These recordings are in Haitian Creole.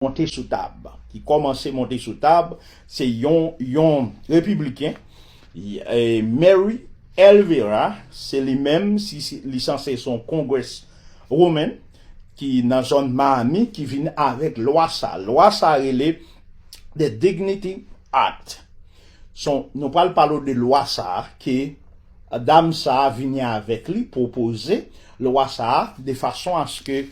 Monte sou tab, ki kòmanse monte sou tab, se yon yon repibliken, Mary Elvira, se li menm, si li sanse son Congress woman, ki nan zòn Miami, ki vin avèk lwa sa. Lwa sa rele The Dignity Act. Son, nou pral pale w de lwa sa ke dam sa vini avèk li, pwopoze lwa sa, de fason aske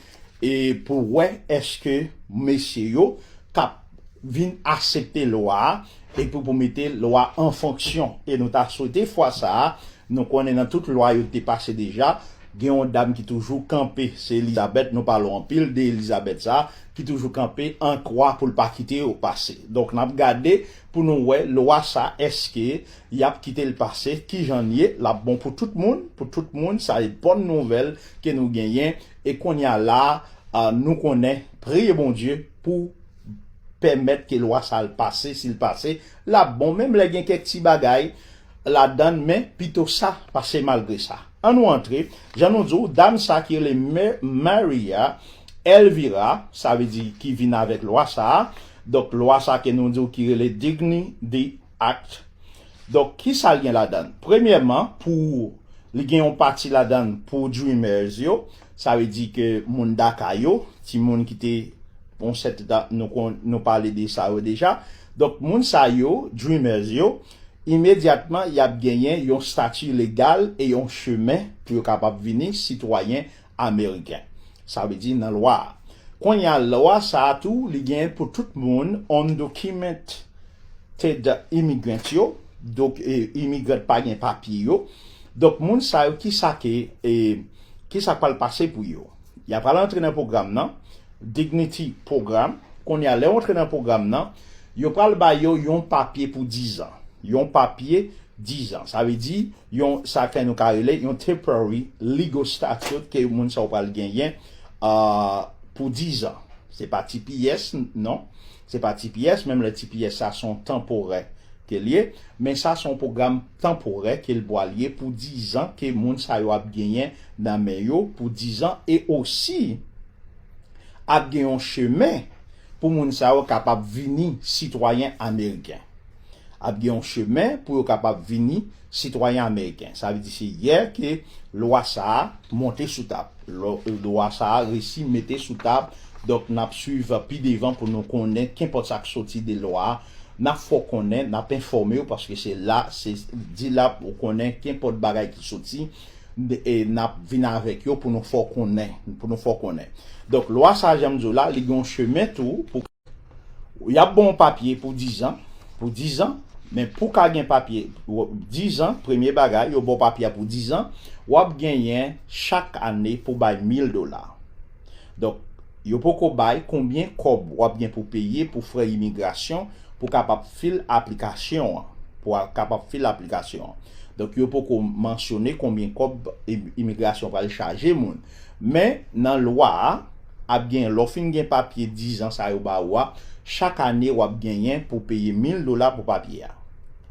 e pou wè èske mesye yo t ap vin asepte lwa a epi pou mete lwa a an fonksyon. E nou ta swete fwa sa a, nou konnen nan tout lwa yo te pase deja, gen yon dam ki toujou kanpe, se Elizabeth, nou pale w anpil de Elizabeth sa a, ki toujou kanpe an kwa pou l pa kite yo pase. Donk n ap gade pou nou wè lwa sa a èske y ap kite l pase, kijan l ye, l ap bon pou tout moun, pou tout moun, sa e bòn nouvèl ke nou genyen. E konnya la nou konnen priye Bondye pou pèmèt ke lwa sa al pase sil pase lap bon menm lè gen kèk ti bagay ladann men pito sa pase malgre sa an nou antre jan nou diw dam sa ki rele Maria Elvira sa vle di ki vin avèk lwa sa donk lwa sa ke nou diw ki rele Dignity Act. Donk ki sa l gen ladan l? Premyèman, pou li gen yon pati ladan l pou Dreamers yo, sa vle di ke moun Daka yo, timoun ki te yon sèten tan nou kon nou pale de sa yo deja. Donk moun sa yo, Dreamers yo, imedyatman y ap genyen yon stati legal e yon chemen pou yo kapab vini sitwayen Ameriken. Sa vle di nan lwa a. Kounye a lwa sa a tou li gen pou tout moun undocumented immigrants yo, donk imigran pa gen papye yo. Donk moun sa yo kisa ke kisa k pral pase pou yo? Y a pral antre nan pwogram nan, Dignity Program, kounye a lè yo antre nan pwogram nan, yo pral ba yo yon papye pou dizan. Yon papye dizan. Sa vle di yon sa kè nou ka rele yon temporary legal statute ke moun sa yo pral genyen pou dizan. Se pa tps non, se pa tps, menm lè tps sa se yon tanporè ke l ye, men sa se yon pwogram tanporè ke l pwal ye pou dizan ke moun sa yo ap genyen nan men yo pou dizan e osi ap gen yon chemen pou moun sa yo kapab vini sitwayen ameriken. ap gen yon chemen pou yo kapab vini sitwayen ameriken. Sa vle di se yè ke lwa sa a monte sou tab. Lwa sa a resi mete sou tab, donk n ap swiv pi devan pou nou konnen kenpòt sa k soti de lwa a, n ap fè w konnen, n ap enfòme w paske se la, se di la pou w konnen kenpòt bagay ki soti, n ap vin avèk yo pou nou fè w konnen, pou nou fè w konnen. Donk lwa sa a jan m di w la, li gen yon chemen tou pou. Y ap ban w papye pou dizan, pou dizan, men pou w ka gen papye dizan, premye bagay, yo ban w papye a pou dizan, w ap genyen chak ane pou w bay 1000 dola. Donk, yo poko bay konbyen kòb w ap gen pou w peye pou frè imigrasyon pou w kapab fil aplikasyon an, pou w kapab fil aplikasyon an. Donk, yo poko mansyone konbyen kòb imigrasyon pral chaje moun. Men, nan lwa a, ap gen lè w fin gen papye dizan sa yo ba ou a, chak ane w ap genyen pou w peye 1000 dola pou papye a.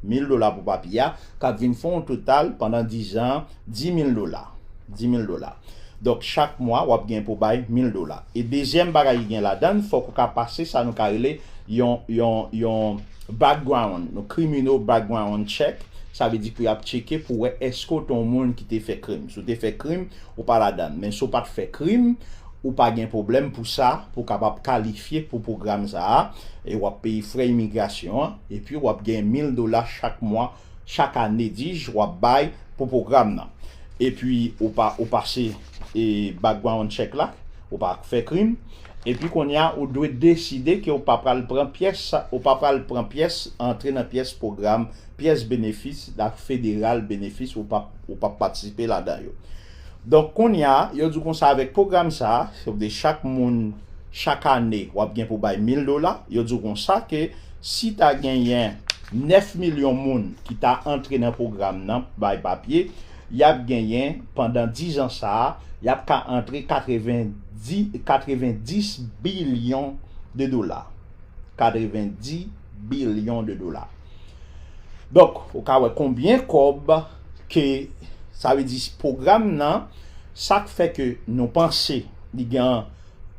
1000 dola pou papye a k ap vin fè yon total pandan dizan an 10000 dola. 10000 dola. Donk, chak mwa w ap gen pou w bay 1000 dola. E dezyèm bagay ki gen ladan l, fòk ou ka pase sa nou ka rele yon, yon, yon background, yon criminal background check, sa vle di pou y ap tcheke pou wè èske w te yon moun ki te fè krim. Si w te fè krim, Ou pa ladann. Men si w pat fè krim, ou pa gen pwoblèm pou sa, pou w kapab kalifye pou pwogram sa a, e w ap peye frè imigrasyon an, epi w ap gen 1000 dola chak mwa, chak ane dij, w ap bay pou pwogram nan. Epi ou pa ou pase e background check la, ou pa fè krim, epi kounye a ou dwe deside ke w pa pral pran pyès, ou pa pral pran pyès, antre nan pyès pwogram pyès benefis dak federal benefis ou pap ou pap patisipe ladan yo donk kounya yo diw konsa avèk pwogram sa se vle chak moun chak ane wap gen pou bay 1000 dola yo diw konsa ke si ta genyen 9 milyon moun ki ta antre nan pwogram nan bay papye yap genyen pandan 10 an sa yap ka antre 90 90 bilyon de dola 90 bilyon de dola. Donk, ou ka wè konbyen kòb ke sa vle di pwogram nan sak fè ke nou panse li gen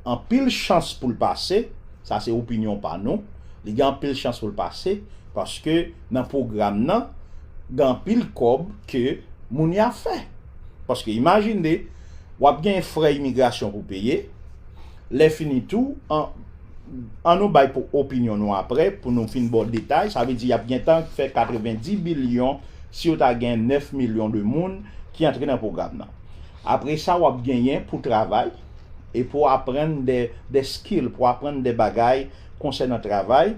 anpil chans pou l pase, sa se opinyon pa nou, li gen anpil chans pou l pase paske nan pwogram nan gen anpil kòb ke moun ya fè. Paske imajine wap gen frè imigrasyon pou peye, Lè fini tou, an an nou bay pou opinyon nou aprè pou nou fin baw detay, sa vle di yap gentan fè 90 bilyon si yo ta gen 9 milyon de moun ki antre nan pwogram nan. Apre sa wap genyen pou travay e pou aprann de de skill, pou aprann de bagay konsènan travay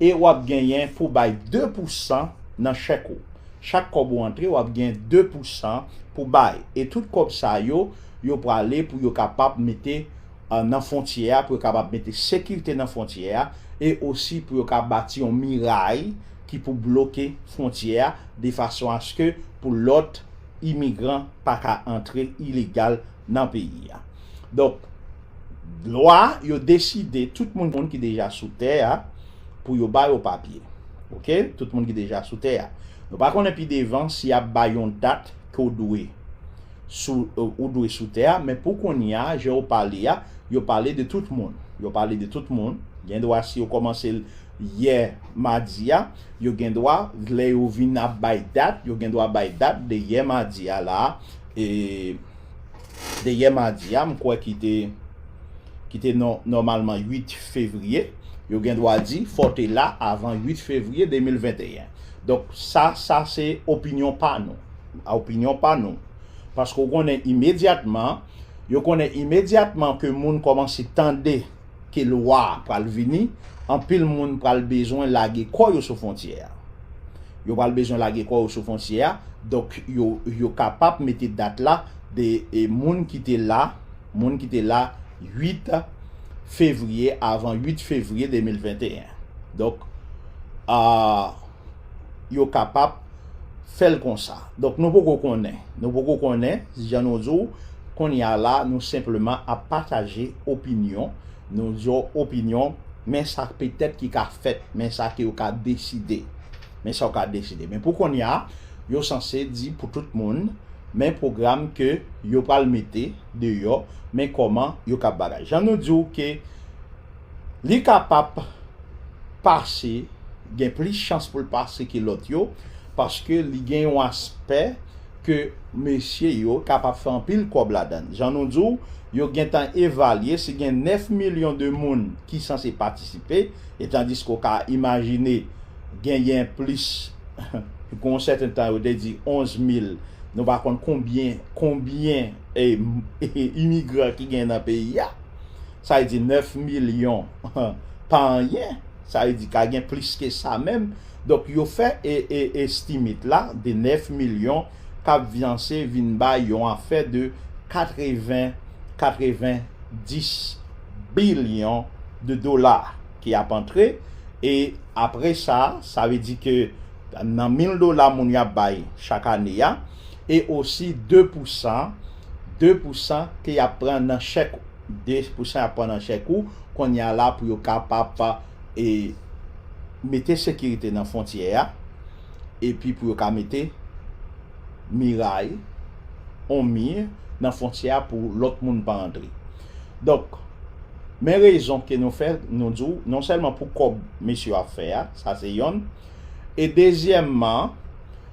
e wap genyen pou bay 2 pou san nan chèk ou. Chak kòb ou antre wap gen 2 pou san pou bay e tout kòb sa yo Yo prale pou yo kapab mete nan fontyè a, pou yo kapab mete sekirte nan fontyè a, e osi pou yo ka bati yon miray ki pou bloke fontyè a de fason aske pou lòt imigran pa ka antre ilegal nan peyi a. Donk, lwa yo deside tout moun ki deja sou tè a pou yo ba yo papye. Ok, tout moun ki deja sou tè a. Nou pa konnen pi devan si y ap bay yon dat ke w dwe. sou ou dwe sou tè a men pou konnya jan ou pale a yo pale de tout moun yo pale de tout moun gen dwa si yo kòmanse l yè madi a yo gen dwa lè yo vin ap bay dat yo gen dwa bay dat de yè madi a la e de yè madi a m kwè ki te ki te nòmalman 8 fevriye yo gen dwa di fò w te la avan 8 fevriye 2021 donk sa sa se opinyon pa nou. a opinyon pa nou. Paske ou konnen imedyatman, yo konnen imedyatman ke moun kòmanse tande ke lwa a pral vini, anpil moun pral bezwen lage kò yo sou fontyè a. Yo pral bezwen lage kò yo sou fontyè a, donk yo kapab mete dat la de moun ki te la, moun ki te la 8 fevriye, avan 8 fevriye 2021. Donk, yo kapab. fè l konsa. Donk nou poko konnen, nou poko konnen, jan nou di w, kounye a la nou senpleman ap pataje opinyon, nou di w opinyon, men sa petèt ki ka fèt, men sa ke yo ka deside, men sa yo ka deside. Men pou kounye a, yo sanse di pou tout moun, men pwogram ke yo pral mete deyò, men kòman yo kab bagay. Jan nou di w ke. Li kapab pase, gen plis chans pou l pase ke lòt yo, paske li gen yon aspè ke mesye yo kapab fè anpil kòb ladann. Jan nou di w, yo gentan evalye si gen 9 milyon de moun ki sanse patisipe, etandiske w ka imajine genyen plis, gon sèten tan yo te di 11 mil, nou pa konn konbyen, konbyen imigran ki genyen nan peyi a. Sa vle di 9 milyon pa anyen, sa vle di ka gen plis ke sa menm. Donk yo fè estimate la de 9 milyon kap vyanse vin bay yon afè de 80, 90 bilyon de dola ki ap antre. E apre sa, sa vle di ke nan 1000 dola moun yo ap bay chak ane a, e osi 2 pousan, 2 pousan ke yap pran nan chèk. 2 pou san yap pran nan chèk ou kounye a la pou yo kapab e mete sekirite nan fontyè a epi pou yo ka mete miray on mir nan fontyè a pou lòt moun pa antre donk men rezon ke nou fè nou di w non sèlman pou kòb mesye yo ap fè a sa se yonn e dezyèmman